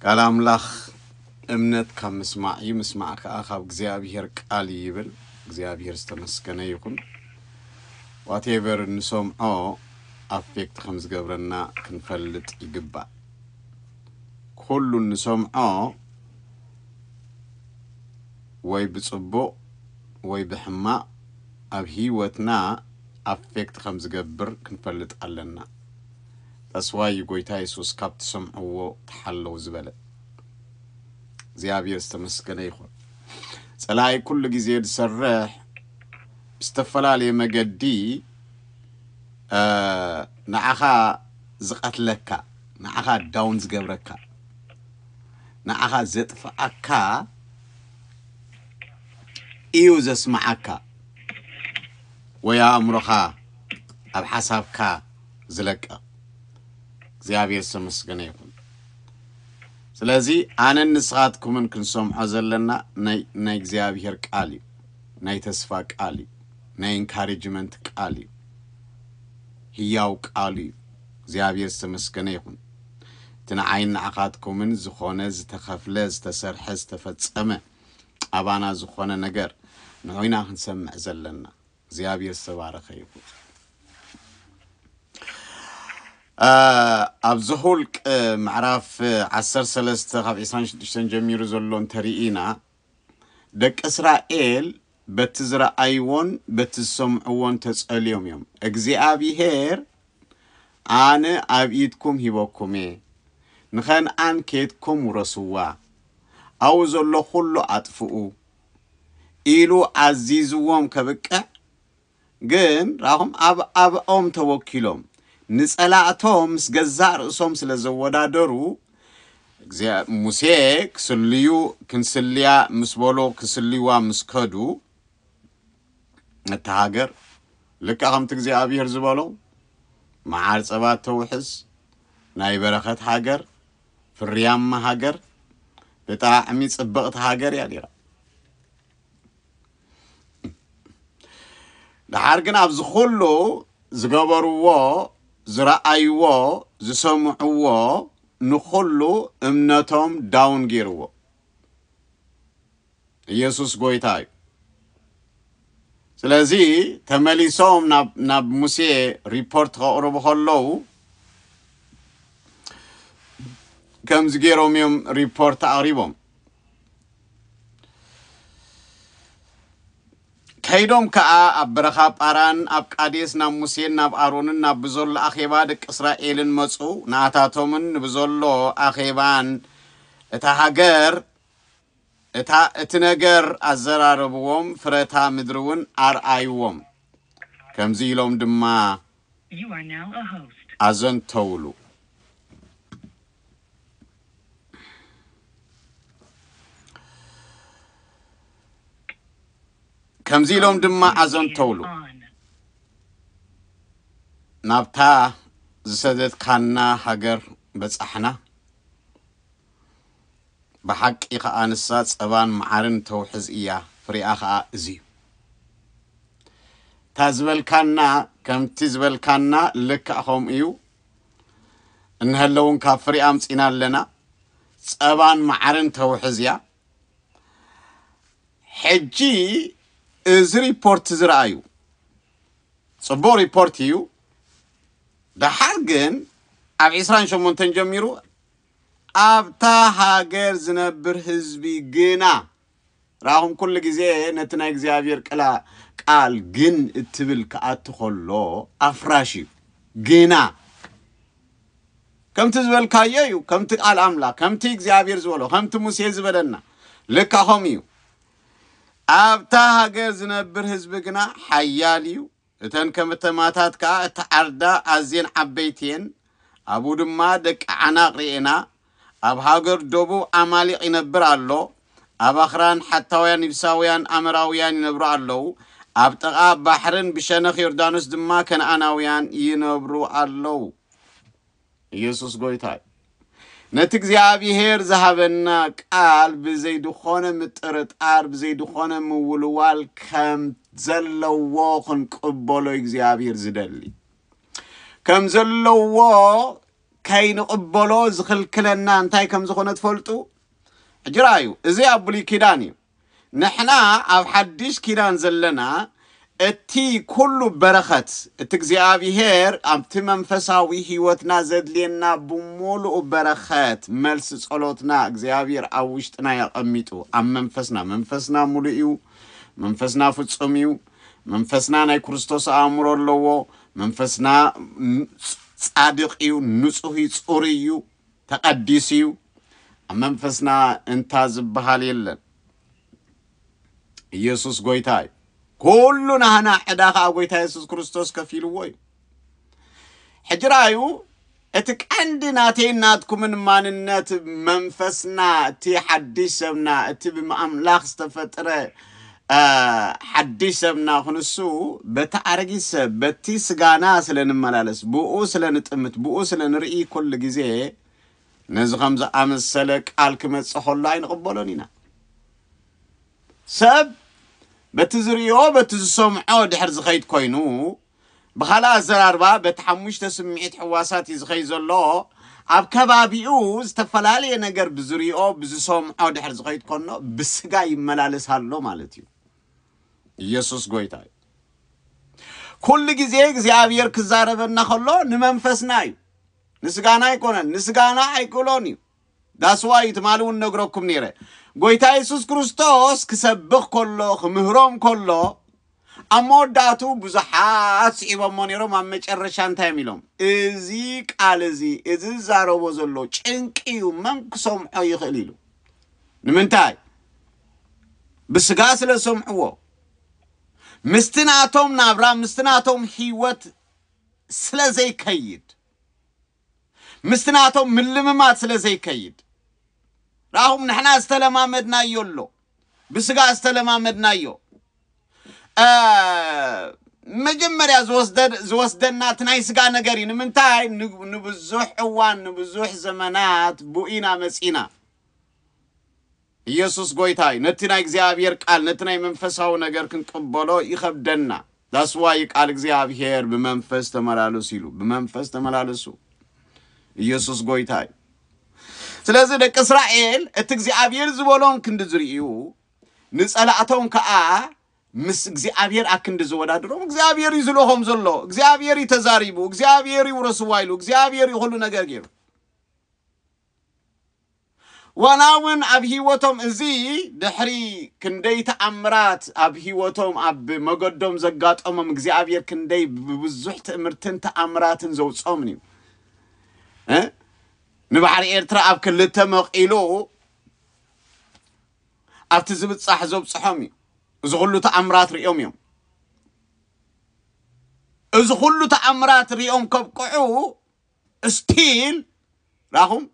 ቃል ኣምላኽ እምነት ካብ ምስማዕ እዩ፣ ምስማዕ ከዓ ካብ እግዚኣብሔር ቃል እዩ ይብል። እግዚኣብሔር ዝተመስገነ ይኹን። ዋቴቨር እንሰምዖ ኣፌክት ከም ዝገብረና ክንፈልጥ ይግባእ። ኩሉ እንሰምዖ ወይ ብፅቡቕ ወይ ብሕማቕ ኣብ ህይወትና ኣፌክት ከም ዝገብር ክንፈልጥ ኣለና። That's why እዩ ጎይታ የሱስ ካብ ትሰምዕዎ ተሓለዉ ዝበለ። እግዚኣብሔር ዝተመስገነ ይኹን። ጸላኢ ኩሉ ግዜ ዝሰርሕ ብዝተፈላለየ መገዲ እ፣ ንዓኻ ዝቐትለካ፣ ንዓኻ ዳውን ዝገብረካ፣ ንዓኻ ዘጥፍኣካ እዩ ዘስምዓካ ወይ ኣእምሮኻ ኣብ ሓሳብካ ዝለቀቕ እግዚኣብሔር ዝተመስገነ ይኹን ስለዚ ኣነን ንስኻትኩምን ክንሰምዖ ዘለና ናይ እግዚኣብሔር ቃል እዩ ናይ ተስፋ ቃል እዩ ናይ ኢንካሬጅመንት ቃል እዩ ህያው ቃሉ እዩ እግዚኣብሔር ዝተመስገነ ይኹን እቲ ንዓይን ንዓኻትኩምን ዝኾነ ዝተኸፍለ ዝተሰርሐ ዝተፈጸመ ኣባና ዝኾነ ነገር ንዑይና ክንሰምዕ ዘለና እግዚኣብሔር ዝተባረኸ ይኹን። ኣብ ዘሁልቅ ምዕራፍ 13 ካብ 26 ጀሚሩ ዘሎ እንተርኢና ደቂ እስራኤል በቲ ዝረኣይዎን በቲ ዝሰምዕዎን ተጸልዮም እዮም። እግዚኣብሔር ኣነ ኣብ ኢድኩም ሂበኩም እየ፣ ንኸንኣን ኬትኩም ውረስዋ፣ ኣብኡ ዘሎ ዅሉ ኣጥፍኡ፣ ኢሉ ኣዚዝዎም ከብቅዕ ግን ራኹም ኣብ ኣብኦም ተወኪሎም ንጸላእቶም ምስ ገዛእ ርእሶም ስለ ዘወዳደሩ እግዚኣ ሙሴ ክስልዩ ክንስልያ ምስ በሎ ክስልይዋ ምስ ከዱ እታ ሃገር ልክዕ ከምቲ እግዚኣብሔር ዝበሎ መዓር ጸባ ተውሕዝ ናይ በረኸት ሃገር ፍርያማ ሃገር ብጣዕሚ ጽብቕቲ ሃገር እያ ነይራ። ደሓር ግን ኣብዚ ኩሉ ዝገበርዎ ዝረኣይዎ ዝሰምዕዎ ንኹሉ እምነቶም ዳውን ገይርዎ። ኢየሱስ ጎይታ እዩ ስለዚ ተመሊሶም ናብ ሙሴ ሪፖርት ከቕርቡ ከለዉ ከምዚ ገይሮም እዮም ሪፖርት ኣቕሪቦም ከይዶም ከዓ ኣብ በረኻ ጳራን ኣብ ቃዴስ ናብ ሙሴን ናብ ኣሮንን ናብ ብዘሎ ኣኼባ ደቂ እስራኤልን መፁ ንኣታቶምን ንብዘሎ ኣኼባን እታ ሃገር እታ እቲ ነገር ኣዘራረብዎም ፍረታ ምድሪውን ኣርኣይዎም ከምዚ ኢሎም ድማ ኣዘንተውሉ። ከምዚ ኢሎም ድማ ኣዘንተውሉ ናብታ ዝሰደድካና ሃገር በጻሕና። ብሓቂ ከኣ ንሳ ጸባን መዓርን ተውሕዝ እያ ፍሬኣ ከኣ እዚዩ። እታ ዝበልካና ከምቲ ዝበልካና ልክዕ ከምኡ እዩ እንሀለ እውን ካብ ፍሬኣ ኣምጺና ኣለና ጸባን መዓርን ተውሕዝ እያ ሕጂ እዚ ሪፖርት ዝረኣዩ ጽቡቕ ሪፖርት እዩ ደሓር ግን ኣብ 28 ጀሚሩ ኣብታ ሃገር ዝነብር ህዝቢ ግና፣ ራኹም ኩሉ ግዜ ነቲ ናይ እግዚኣብሔር ቅላ ቃል ግን እትብል ክኣቱ ከሎ ኣፍራሽ እዩ። ግና ከምቲ ዝበልካዮ እዩ፣ ከምቲ ቃል ኣምላኽ፣ ከምቲ እግዚኣብሔር ዝበሎ፣ ከምቲ ሙሴ ዝበለና፣ ልካ ከምኡ እዩ። ኣብታ ሃገር ዝነብር ህዝቢ ግና ሓያል እዩ፣ እተን ከም እተማታት ከኣ እተዓርዳ ኣዝየን ዓበይቲ እየን፣ ኣብኡ ድማ ደቂ ዓናቕ ርኤና። ኣብ ሃገር ደቡብ ዓማሊቕ ይነብር ኣሎ፣ ኣብ ኣኽራን ሓታውያን ይብሳውያን ኣመራውያን ይነብሩ ኣለዉ፣ ኣብ ጥቓ ባሕርን ብሸነኽ ዮርዳኖስ ድማ ከነኣናውያን ይነብሩ ኣለዉ። ኢየሱስ ጎይታ እዩ። ነቲ እግዚኣብሔር ዝሃበና ቃል ብዘይ ድኾነ ምጥርጣር ብዘይ ድኾነ ምውልዋል ከም ዘለዎ ክንቅበሎ እግዚኣብሔር ዝደሊ ከም ዘለዎ ከይንቕበሎ ዝኽልክለና እንታይ ከም ዝኾነ ትፈልጡ ሕጂ ራእዩ እዚ ኣብ ብሉይ ኪዳን እዩ ንሕና ኣብ ሓዲሽ ኪዳን ዘለና እቲ ኩሉ በረኸት እቲ እግዚኣብሄር ኣብቲ መንፈሳዊ ሕይወትና ዘድልየና ብምሉኡ በረኸት መልሲ ጸሎትና እግዚኣብሄር ኣብ ውሽጥና እዩ ኣቐሚጡ ኣብ መንፈስና መንፈስና ምሉእ እዩ መንፈስና ፍጹም እዩ መንፈስና ናይ ክርስቶስ ኣእምሮ ኣለዎ መንፈስና ጻድቕ እዩ ንጹህ እዩ ጽሩይ እዩ ተቀዲሱ እዩ ኣብ መንፈስና እንታ ዝብሃል የለን ኢየሱስ ጎይታ እዩ ኩሉ ናህና ዕዳ ከዓ ጎይታ ኢየሱስ ክርስቶስ ከፊልዎ እዩ ሕጂ ራዩ እቲ ቀንዲ ናተይን ናትኩምን ማንነት መንፈስና እቲ ሓድሽ ሰብና እቲ ብኣምላኽ ዝተፈጥረ ሓድሽ ሰብና ክንሱ በቲ ኣረጊት ሰብ በቲ ስጋና ስለ ንመላለስ ብእኡ ስለ ንጥምት ብእኡ ስለ ንርኢ ኩሉ ግዜ ነዚ ከም ዝኣመሰለ ቃል ክመጽእ ከሎ ኣይንቕበሎን ኢና ሰብ በቲ ዝርእዮ በቲ ዝሰምዖ ድሕር ዝኸይድ ኮይኑ ብኻልእ ኣዘራርባ በቲ ሓሙሽተ ስምዒት ሕዋሳት እዩ ዝኸይ ዘሎ ኣብ ከባቢኡ ዝተፈላለየ ነገር ብዝሪኦ ብዝሰምዖ ድሕር ዝኸይድ ኮኖ ብስጋ ይመላለስ ኣሎ ማለት እዩ ኢየሱስ ጎይታ እዩ ኩሉ ግዜ እግዚኣብሔር ክዛረበና ከሎ ንመንፈስና እዩ ንስጋና ኣይኮነን ንስጋና ኣይክእሎን እዩ That's why ትማሊ ውን ነግረኩም ኔረ ጎይታ የሱስ ክርስቶስ ክሰብኽ ከሎ ክምህሮም ከሎ ኣብ መወዳእትኡ ብዙሓት ስዒቦሞ ኔሮም ኣብ መጨረሻ እንታይ እዮም ኢሎም እዚ ቃል እዚ እዚ ዝዛረቦ ዘሎ ጭንቂ እዩ መን ክሰምዖ ይኽእል ኢሉ ንምንታይ ብስጋ ስለ ዝሰምዕዎ ምስቲ ናቶም ናብራ ምስቲ ናቶም ህይወት ስለ ዘይከይድ ምስቲ ናቶም ምልምማድ ስለ ዘይከይድ ረኣኹም ንሕና ዝተለማመድናዮ ኣሎ ብስጋ ዝተለማመድናዮ መጀመርያ ዝወስደና እቲ ናይ ስጋ ነገር እዩ ንምንታይ ንብዙሕ እዋን ንብዙሕ ዘመናት ቡኢና መፂና ኢየሱስ ጎይታ እዩ ነቲ ናይ እግዚኣብሔር ቃል ነቲ ናይ መንፈሳዊ ነገር ክንቅበሎ ይኸብደና That's why እዩ ቃል እግዚኣብሔር ብመንፈስ ተመላለሱ ኢሉ ብመንፈስ ተመላለሱ ኢየሱስ ጎይታ እዩ ስለዚ ደቂ እስራኤል እቲ እግዚኣብሔር ዝበሎም ክንዲ ዝርእዩ ንጸላእቶም ከዓ ምስ እግዚኣብሔር ኣክንዲ ዝወዳድሮም እግዚኣብሔር እዩ ዝልሆም ዘሎ እግዚኣብሔር እዩ ተዛሪቡ እግዚኣብሔር እዩ ውረስዋ ኢሉ እግዚኣብሔር እዩ ኩሉ ነገር ገይሩ ዋላ ውን ኣብ ሂወቶም እዚ ድሕሪ ክንደይ ተኣምራት ኣብ ሂወቶም ኣብ መገዶም ዘጋጠሞም እግዚኣብሔር ክንደይ ብብዙሕ ትእምርትን ተኣምራትን ዘውጾምን እዩ እ ንባሕሪ ኤርትራ ኣብ ክልተ መቂሉ ኣብቲ ዝብጻሕ ዘብጽሖም እዩ እዚ ኩሉ ተኣምራት ሪኦም እዮም እዚ ኩሉ ተኣምራት ሪኦም ከብቅዑ እስቲል ራኹም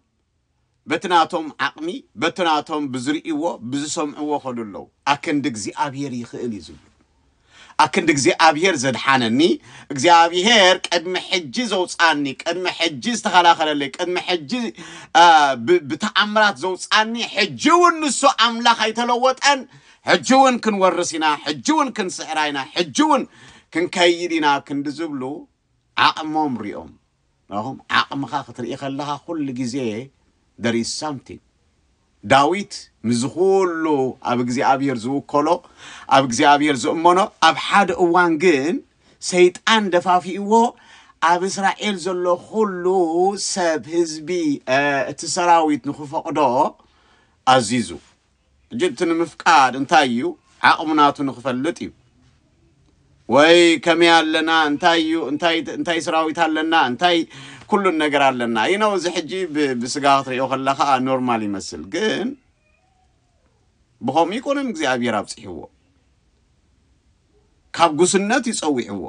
በቲ ናቶም ዓቕሚ በቲ ናቶም ብዝርእይዎ ብዝሰምዕዎ ኸዱ ኣለው ኣክንዲ እግዚኣብሄር ይኽእል እዩ ዝብሉ ኣክንዲ እግዚኣብሄር ዘድሓነኒ እግዚኣብሄር ቅድሚ ሕጂ ዘውፃኒ ቅድሚ ሕጂ ዝተኸላኸለለይ ቅድሚ ሕጂ ብተኣምራት ዘውፃኒ ሕጂ እውን ንሱ ኣምላኽ ኣይተለወጠን ሕጂ እውን ክንወርስ ኢና ሕጂ እውን ክንስዕራ ኢና ሕጂ እውን ክንከይድ ኢና ክንዲ ዝብሉ ዓቕሞም ሪኦም ራኹም ዓቕምኻ ክትርኢ ከለኻ ኩሉ ግዜ there is something ዳዊት ምስዚ ኩሉ ኣብ እግዚኣብሔር ዝውከሎ ኣብ እግዚኣብሔር ዝእመኖ ኣብ ሓደ እዋን ግን ሰይጣን ደፋፊእዎ ኣብ እስራኤል ዘሎ ኩሉ ሰብ ህዝቢ እቲ ሰራዊት ንክፈቕዶ ኣዚዙ ሕጂ እቲ ንምፍቃድ እንታይ እዩ ዓቕሙ ናቱ ንኽፈልጥ እዩ ወይ ከመይ ኣለና እንታይ እዩ እንታይ እንታይ ስራዊት ኣለና እንታይ ኩሉን ነገር ኣለና ይነው እዚ ሕጂ ብስጋ ክትሪኦ ከላ ከዓ ኖርማል ይመስል ግን ብኸምኡ ይኮነን እግዚኣብሔር ኣብፅሕዎ ካብ ጉስነት ይፀዊዕዎ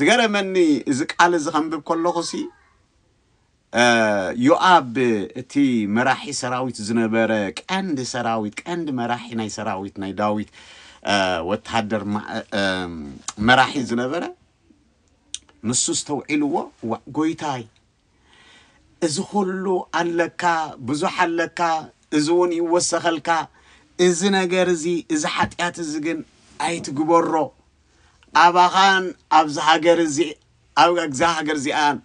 ዝገረመኒ እዚ ቃል እዚ ከንብብ ከለኹ ሲ ዮኣብ እቲ መራሒ ሰራዊት ዝነበረ ቀንዲ ሰራዊት ቀንዲ መራሒ ናይ ሰራዊት ናይ ዳዊት ወተሃደር መራሒ ዝነበረ ንሱ ዝተውዒልዎ ዋእ ጎይታይ እዚ ኩሉ ኣለካ ብዙሕ ኣለካ እዚ እውን ይወሰኸልካ እዚ ነገር እዚ እዚ ሓጢኣት እዚ ግን ኣይትግበሮ ኣባኻን ኣብዛ ሃገር እዚ ኣብ እዛ ሃገር እዚኣን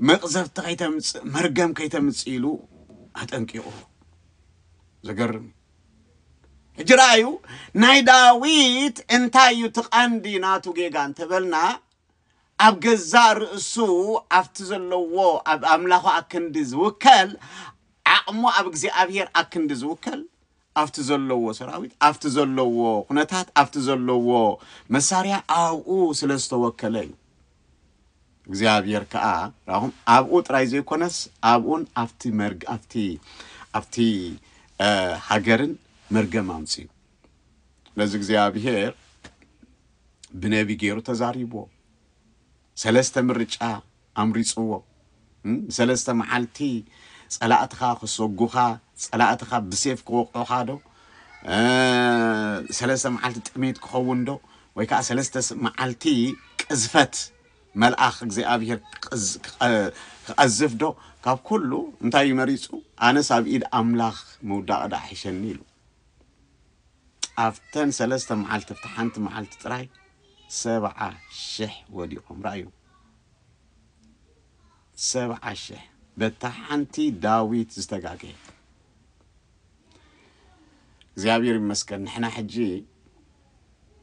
መቕዘፍቲ ከይተምፅእ መርገም ከይተምፅእ ኢሉ ኣጠንቂቑ ዘገርም እዩ ሕጂ ረኣዩ ናይ ዳዊት እንታይ እዩ እቲ ቀንዲ ናቱ ጌጋ እንተበልና ኣብ ገዛእ ርእሱ ኣብቲ ዘለዎ ኣብ ኣምላኹ ኣክንዲ ዝውከል ዓቕሙ ኣብ እግዚኣብሄር ኣክንዲ ዝውከል ኣብቲ ዘለዎ ሰራዊት ኣብቲ ዘለዎ ኩነታት ኣብቲ ዘለዎ መሳርያ ኣብኡ ስለ ዝተወከለ እዩ እግዚኣብሔር ከዓ ራኹም ኣብኡ ጥራይ ዘይኮነስ ኣብኡን ኣብቲ መርግ ኣብቲ ኣብቲ እ፣ ሃገርን መርገም ኣምፅኡ ስለዚ እግዚኣብሔር ብነቢ ገይሩ ተዛሪብዎ ሰለስተ ምርጫ ኣምሪጽዎ ንሰለስተ መዓልቲ ጸላእትኻ ክሰጉኻ ጸላእትኻ ብሴፍ ክወቕዑኻ ዶ ሰለስተ መዓልቲ ጥሜት ክኸውን ዶ ወይ ከዓ ሰለስተ መዓልቲ ቅዝፈት መልኣኽ እግዚኣብሔር ክቐዝፍ ዶ ካብ ኩሉ እንታይ እዩ መሪፁ ኣነስ ኣብ ኢድ ኣምላኽ ምውዳቕ ዳኣ ሒሸኒ ኢሉ ኣብተን ሰለስተ መዓልቲ ኣብቲ ሓንቲ መዓልቲ ጥራይ ሰብዓ ሽሕ ወዲቆም ረኣዩ ሰብዓ ሽሕ በታ ሓንቲ ዳዊት ዝተጋገየ እግዚኣብሔር ይመስገን ንሕና ሕጂ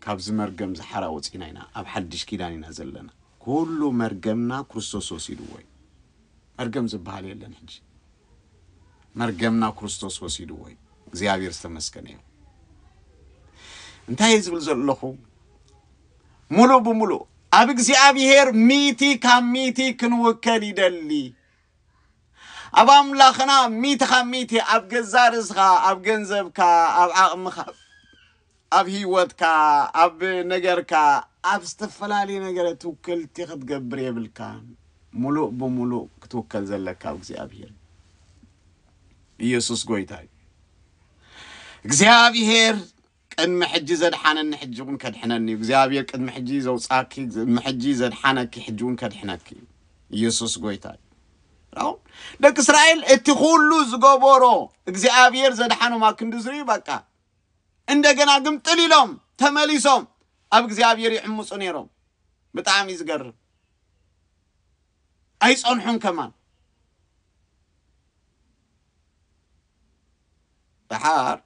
ካብዚ መርገም ዝሓራ ወፂና ኢና ኣብ ሓድሽ ኪዳን ኢና ዘለና ኩሉ መርገምና ክርስቶስ ወሲድዎ እዩ መርገም ዝበሃል የለን ሕጂ መርገምና ክርስቶስ ወሲድዎ እዩ እግዚኣብሔር ዝተመስገነ ይኹን እንታይ ዝብል ዘለኹ ሙሉእ ብሙሉእ ኣብ እግዚኣብሔር ሚቲ ካብ ሚቲ ክንውከል ይደሊ ኣብ ኣምላኽና ሚቲ ካብ ሚቲ ኣብ ገዛ ርእስኻ ኣብ ገንዘብካ ኣብ ዓቕምኻ ኣብ ሂወትካ ኣብ ነገርካ ኣብ ዝተፈላልየ ነገረ ትውክልቲ ክትገብር የብልካን ሙሉእ ብሙሉእ ክትውከል ዘለካ ኣብ እግዚኣብሄር እዩ ኢየሱስ ጎይታ እዩ እግዚኣብሄር ቅድሚ ሕጂ ዘድሓነኒ ሕጂ እውን ከድሕነኒ እዩ እግዚኣብሄር ቅድሚ ሕጂ ዘውጻኪ ቅድሚ ሕጂ ዘድሓነኪ ሕጂ እውን ከድሕነኪ እዩ ኢየሱስ ጎይታ እዩ ራው ደቂ እስራኤል እቲ ኩሉ ዝገበሮ እግዚኣብሄር ዘድሓኖም ኣብ ክንዲ ዝርእዩ በቃ እንደገና ግምጥል ኢሎም ተመሊሶም ኣብ እግዚኣብሔር ይዕምፁ ነይሮም ብጣዕሚ እዩ ዝገርም ኣይፀንሑን ከማን ደሓር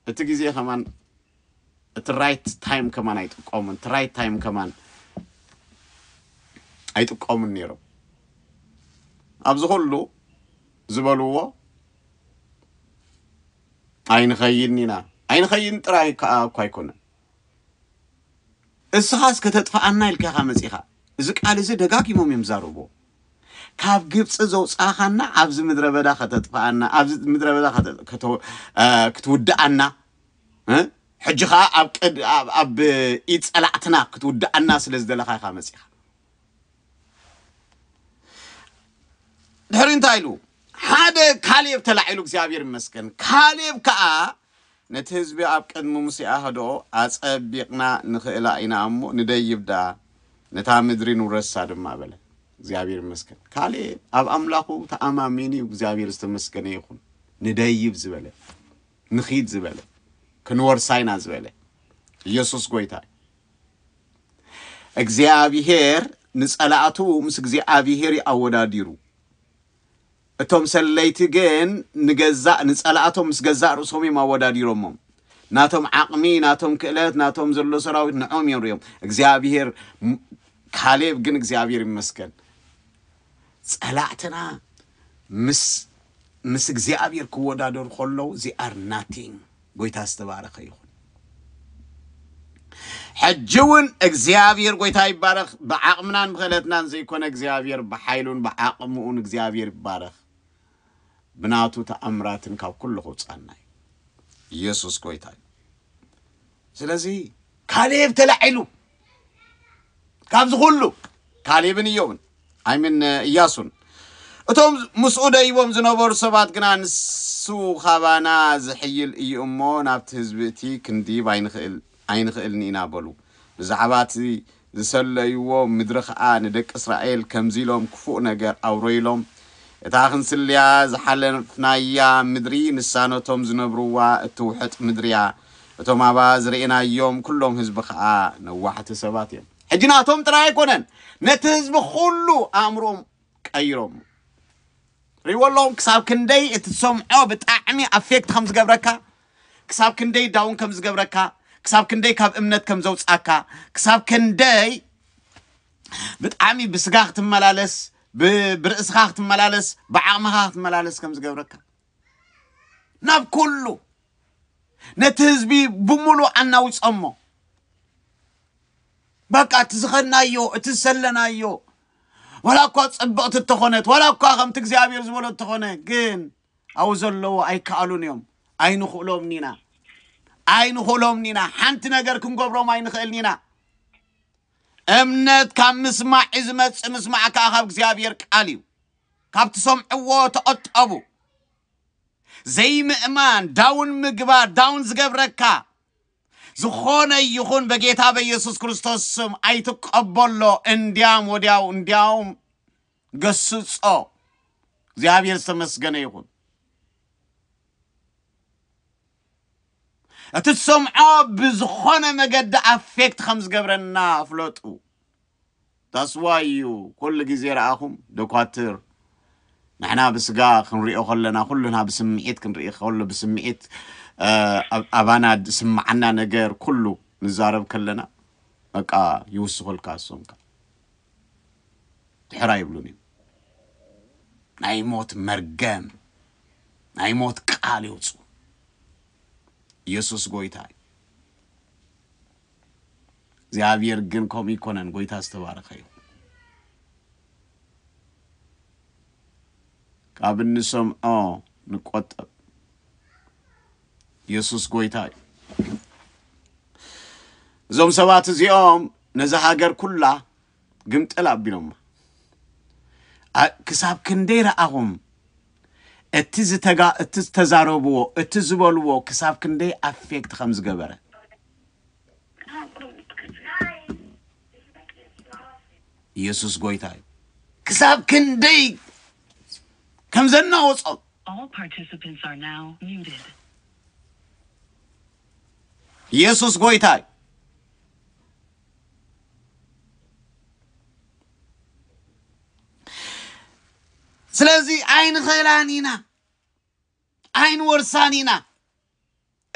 እቲ ግዜ ከማን እቲ ራይት ታይም ከማን ኣይጥቀሙን እቲ ራይት ታይም ከማን ኣይጥቀሙን ነይሮም ኣብዚ ኩሉ ዝበልዎ ኣይንኸይድን ኢና ኣይንኸይድን ጥራይ ከኣ እኳ ኣይኮነን። እስኻስ ከተጥፍኣና ኢልካ ኢኻ መጺኻ። እዚ ቃል እዚ ደጋጊሞም እዮም ዝዛረብዎ። ካብ ግብፂ ዘውፃኻና ኣብዚ ምድረ በዳ ከተጥፍኣና ኣብዚ ምድረ በዳ ከተ- ከተ- አ፣ ክትውድኣና እ? ሕጂ ከዓ ኣብ ቅድ- ኣብ- ኣብ ኢድ ፀላእትና ክትውድኣና ስለ ዝደለኻ ኢኻ መፂኻ ድሕሪ እንታይ ኢሉ ሓደ ካሌብ ተላዒሉ እግዚኣብሔር ይመስገን ካሌብ ከዓ ነቲ ህዝቢ ኣብ ቅድሚ ሙሴ ኣህድኦ ኣጸቢቕና ንኽእላ ኢና እሞ ንደይብዳ ነታ ምድሪ ንውረሳ ድማ በለ እግዚኣብሔር ይመስገን ካሌብ ኣብ ኣምላኹ ተኣማሚኑ እዩ እግዚኣብሔር ዝተመስገነ ይኹን ንደይብ ዝበለ ንኺድ ዝበለ ክንወርሳ ኢና ዝበለ ኢየሱስ ጎይታ እዩ እግዚኣብሄር ንጸላእቱ ምስ እግዚኣብሄር እዩ ኣወዳዲሩ። እቶም ሰለይቲ ግን ንገዛእ ንጸላእቶም ምስ ገዛእ ርእሶም እዮም ኣወዳዲሮሞም። ናቶም ዓቕሚ፣ ናቶም ክእለት፣ ናቶም ዘሎ ሰራዊት ንዖም እዮም ሪኦም። እግዚኣብሄር ካሌብ ግን እግዚኣብሄር ይመስገን ጸላእትና ምስ ምስ እግዚኣብሄር ክወዳደሩ ከለዉ ዚኣር ናቲንግ ጎይታ ዝተባረኸ ይኹን። ሕጂ እውን እግዚኣብሔር ጎይታ ይባረኽ። ብዓቕምናን ብክእለትናን ዘይኮነ እግዚኣብሔር ብሓይሉን ብዓቕምኡን እግዚኣብሔር ይባረኽ። ብናቱ ተኣምራትን ካብ ኩሉ ክውፃና እዩ። ኢየሱስ ጎይታ እዩ። ስለዚ ካሌብ ተላዒሉ ካብዚ ኩሉ ካሌብን እዮብን ኣይምን እያሱን እቶም ምስኡ ደይቦም ዝነበሩ ሰባት ግና ንሱ ካባና ዝሕይል እዩ እሞ ናብቲ ህዝቢ እቲ ክንድይብ ኣይንኽእል ኣይንኽእልን ኢና በሉ ብዛዕባ እቲ ዝሰለይዎ ምድሪ ኸዓ ንደቂ እስራኤል ከምዚ ኢሎም ክፉእ ነገር ኣውረዩሎም እታ ክንስልያ ዝሓለፍናያ ምድሪ ንሳ ነቶም ዝነብርዋ እትውሕጥ ምድሪ እያ እቶም ኣብኣ ዝርኤናዮም ኩሎም ህዝቢ ከኣ ነዋሕቲ ሰባት እዮም። ሕጂ ናቶም ጥራይ ኣይኮነን ነቲ ህዝቢ ኩሉ ኣእምሮኦም ቀይሮሞ። ርእይዎ ኣለኹም ክሳብ ክንደይ እቲ ትሰምዖ ብጣዕሚ ኣፌክት ከም ዝገብረካ፣ ክሳብ ክንደይ ዳውን ከም ዝገብረካ፣ ክሳብ ክንደይ ካብ እምነት ከም ዘውጽኣካ፣ ክሳብ ክንደይ ብጣዕሚ ብስጋ ክትመላለስ ብርእስኻ ክትመላለስ ብዓቕምኻ ክትመላለስ ከም ዝገብረካ ናብ ኩሉ ነቲ ህዝቢ ብምሉእ ኣናዊጾሞ። በቃ እቲ ዝኸድናዮ እቲ ዝሰለናዮ ዋላ እኳ ጽብቕቲ እተኾነት ዋላ እኳ ከምቲ እግዚኣብሔር ዝበሎ እተኾነ ግን ኣብኡ ዘለዎ ኣይከኣሉን እዮም ኣይንኽእሎምን ኢና ኣይንኽእሎምን ኢና ሓንቲ ነገር ክንገብሮም ኣይንኽእልን ኢና እምነት ካብ ምስማዕ እዩ ዝመጽእ ምስማዕ ከዓ ካብ እግዚኣብሔር ቃል እዩ ካብ ትሰምዕዎ ተቐጠቡ ዘይምእማን ዳውን ምግባር ዳውን ዝገብረካ ዝኾነ ይኹን በጌታ በኢየሱስ ክርስቶስ ስም ኣይትቀበሎ እንዲያም ወዲያው እንዲያውም ገስጾ እግዚኣብሔር ዝተመስገነ ይኹን እቲ ትሰምዖ ብዝኾነ መገዲ ኣፌክት ከም ዝገብረና ፍለጡ That's why እዩ ኩሉ ግዜ ረኣኹም ደኳትር ንሕና ብስጋ ክንሪኦ ከለና ኩልና ብስምዒት ክንርኢ ከሎ ብስምዒት ኣባና ዝስምዓና ነገር ኩሉ ንዛረብ ከለና በቃ ይውስኹልካ እሶምካ ድሕራ ይብሉን እዩ ናይ ሞት መርገም ናይ ሞት ቃል የውፅኡ ኢየሱስ ጎይታ እዩ እግዚኣብሔር ግን ከምኡ ኣይኮነን ጎይታ ዝተባረኸ ይኹን ካብ እንሰምዖ ንቆጠብ ኢየሱስ ጎይታ እዩ እዞም ሰባት እዚኦም ነዛ ሃገር ኩላ ግምጥል ኣቢሎማ ኣ- ክሳብ ክንደይ ረኣኹም እቲ ዝተጋ እቲ ዝተዛረብዎ እቲ ዝበልዎ ክሳብ ክንደይ ኣፌክት ከም ዝገበረ ኢየሱስ ጎይታ እዩ። ክሳብ ክንደይ ከም ዘናወጾም ኢየሱስ ጎይታ እዩ። ስለዚ ኣይንኸላን ኢና ኣይንወርሳን ኢና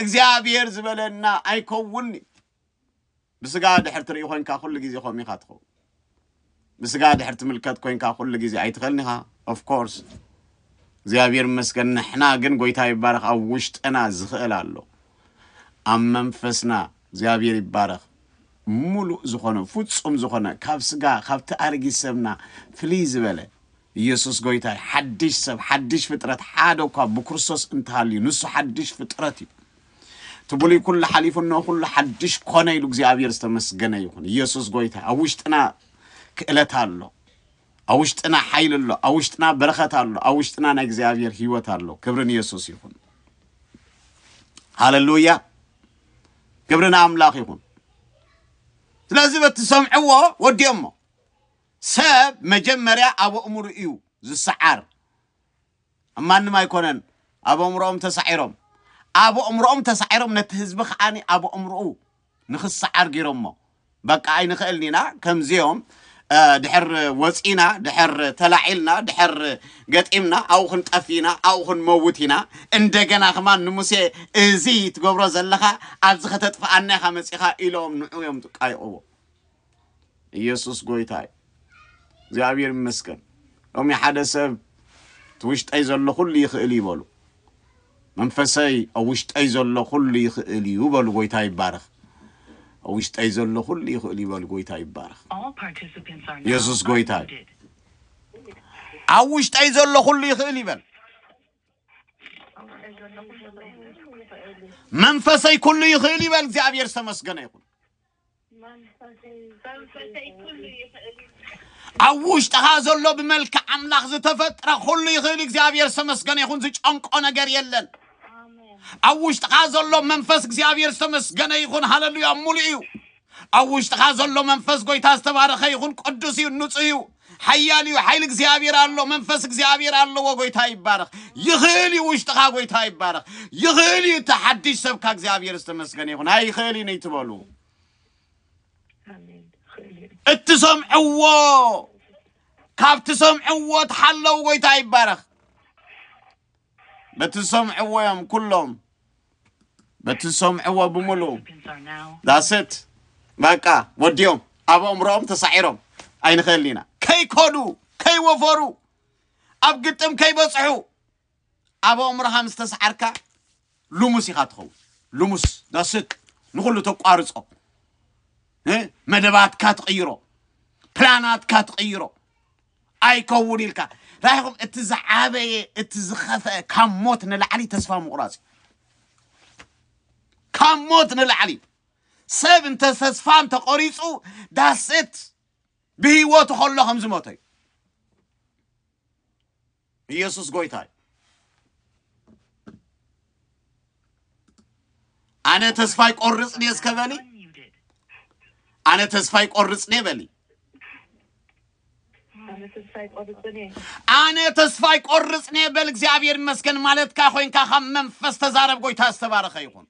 እግዚኣብሔር ዝበለና ኣይከውን እዩ ብስጋ ድሕር ትርኢ ኮንካ ኩሉ ግዜ ከምኡ ኢኻ ትኸውን ብስጋ ድሕር ትምልከት ኮንካ ኩሉ ግዜ ኣይትኽእልን ኢኻ ኦፍ ኮርስ እግዚኣብሔር ይመስገን ንሕና ግን ጎይታ ይባረኽ ኣብ ውሽጥና ዝኽእል ኣሎ ኣብ መንፈስና እግዚኣብሔር ይባረኽ ሙሉእ ዝኾነ ፍጹም ዝኾነ ካብ ስጋ ካብቲ ኣርጊት ሰብና ፍልይ ዝበለ ኢየሱስ ጎይታ እዩ ሓድሽ ሰብ ሓድሽ ፍጥረት ሓደ እኳ ብክርስቶስ እንተሃልዩ ንሱ ሓድሽ ፍጥረት እዩ እቲ ብሉይ ኩሉ ሓሊፉ እነሆ ኩሉ ሓድሽ ኮነ ኢሉ እግዚኣብሔር ዝተመስገነ ይኹን ኢየሱስ ጎይታ ኣብ ውሽጥና ክእለት ኣሎ ኣብ ውሽጥና ሓይሊ ኣሎ ኣብ ውሽጥና በረኸት ኣሎ ኣብ ውሽጥና ናይ እግዚኣብሔር ህይወት ኣሎ ክብሪ ንየሱስ ይኹን ሃለሉያ ክብሪ ንኣምላኽ ይኹን ስለዚ በቲ ዝሰምዕዎ ወዲኦሞ ሰብ መጀመርያ ኣብ ኣእምሩ እዩ ዝሰዓር ኣብ ማንም ኣይኮነን ኣብ ኣእምሮኦም ተሳዒሮም ኣብ ኣእምሮኦም ተሳዒሮም ነቲ ህዝቢ ከዓኒ ኣብ ኣእምሮኡ ንኽሰዓር ገይሮሞ በቃ ኣይንኽእልን ኢና ከምዚኦም ድሕር ወፂና ድሕር ተላዒልና ድሕር ገጢምና ኣብኡ ክንጠፍ ኢና ኣብኡ ክንመውት ኢና እንደገና ከማን ንሙሴ እዚ ትገብሮ ዘለኻ ኣብዚ ከተጥፍኣና ኢኻ መፂኻ ኢሎም ንዑ እዮም ዝቃይቕዎ ኢየሱስ ጎይታ እዩ እግዚኣብሔር ይመስገን ሎሚ ሓደ ሰብ እቲ ውሽጠይ ዘሎ ኩሉ ይኽእል እዩ በሉ መንፈሰይ ኣብ ውሽጠይ ዘሎ ኩሉ ይኽእል እዩ በሉ ጎይታ ይባረኽ ኣብ ውሽጠይ ዘሎ ኩሉ ይኽእል እዩ በሉ ጎይታ ይባረኽ All participants are now ኢየሱስ ጎይታ እዩ። unmuted. ኣብ ውሽጠይ ዘሎ ኩሉ ይኽእል ይበል መንፈሰይ ኩሉ ይኽእል ይበል እግዚኣብሔር ዝተመስገነ ይኹን ኣብ ውሽጥኻ ዘሎ ብመልክዕ ኣምላኽ ዝተፈጥረ ኩሉ ይኽእል እግዚኣብሔር ዝተመስገነ ይኹን ዝጨንቆ ነገር የለን ኣብ ውሽጥኻ ዘሎ መንፈስ እግዚኣብሔር ዝተመስገነ ይኹን ሃለሉያ ሙሉእ እዩ ኣብ ውሽጥኻ ዘሎ መንፈስ ጎይታ ዝተባረኸ ይኹን ቅዱስ እዩ ንፁህ እዩ ሓያል እዩ ሓይሊ እግዚኣብሔር ኣሎ መንፈስ እግዚኣብሔር ኣለዎ ጎይታ ይባረኽ ይኽእል እዩ ውሽጥኻ ጎይታ ይባረኽ ይኽእል እዩ እቲ ሓድሽ ሰብካ እግዚኣብሔር ዝተመስገነ ይኹን ኣይኽእል እዩ ንይትበሉ ኣሜን ይኽእል እዩ እትሰምዕዎ ካብ ትሰምዕዎ ተሓለው ጎይታ ይባረኽ በቲ ዝሰምዕዎ እዮም ኩሎም በቲ ዝሰምዕዎ ብምሉ ዳስት በቃ ወዲኦም ኣብ ኣእምሮኦም ተሳዒሮም ኣይንኽእል ኢና ከይኮዱ ከይወፈሩ ኣብ ግጥም ከይበፅሑ ኣብ ኣእምሮኻ ምስ ተሰዓርካ ልሙስ ኢኻ ትኸውን ልሙስ ዳስት ንኹሉ ተቋርፆ መደባትካ ትቕይሮ ፕላናትካ ትቕይሮ ኣይከውን ኢልካ ራይኹም እቲ ዝዓበየ እቲ ዝኸፈአ ካብ ሞት ንላዕሊ ተስፋ ምቑራጽ እዩ ካብ ሞት ንላዕሊ ሰብ እንተ ተስፋ እንተቆሪጹ ዳሴት ብህይወቱ ከሎ ከም ዝሞተ እዩ ኢየሱስ ጎይታ እዩ። ኣነ ተስፋ ይቆርጽ ድየ እስከ በሊ ኣነ ተስፋ ይቆርጽ ድየ በሊ ኣነ ተስፋ ይቆርጽ ድየ በል። እግዚኣብሔር ይመስገን ማለትካ ኮይንካ ካብ መንፈስ ተዛረብ። ጎይታ ዝተባረኸ ይኹን።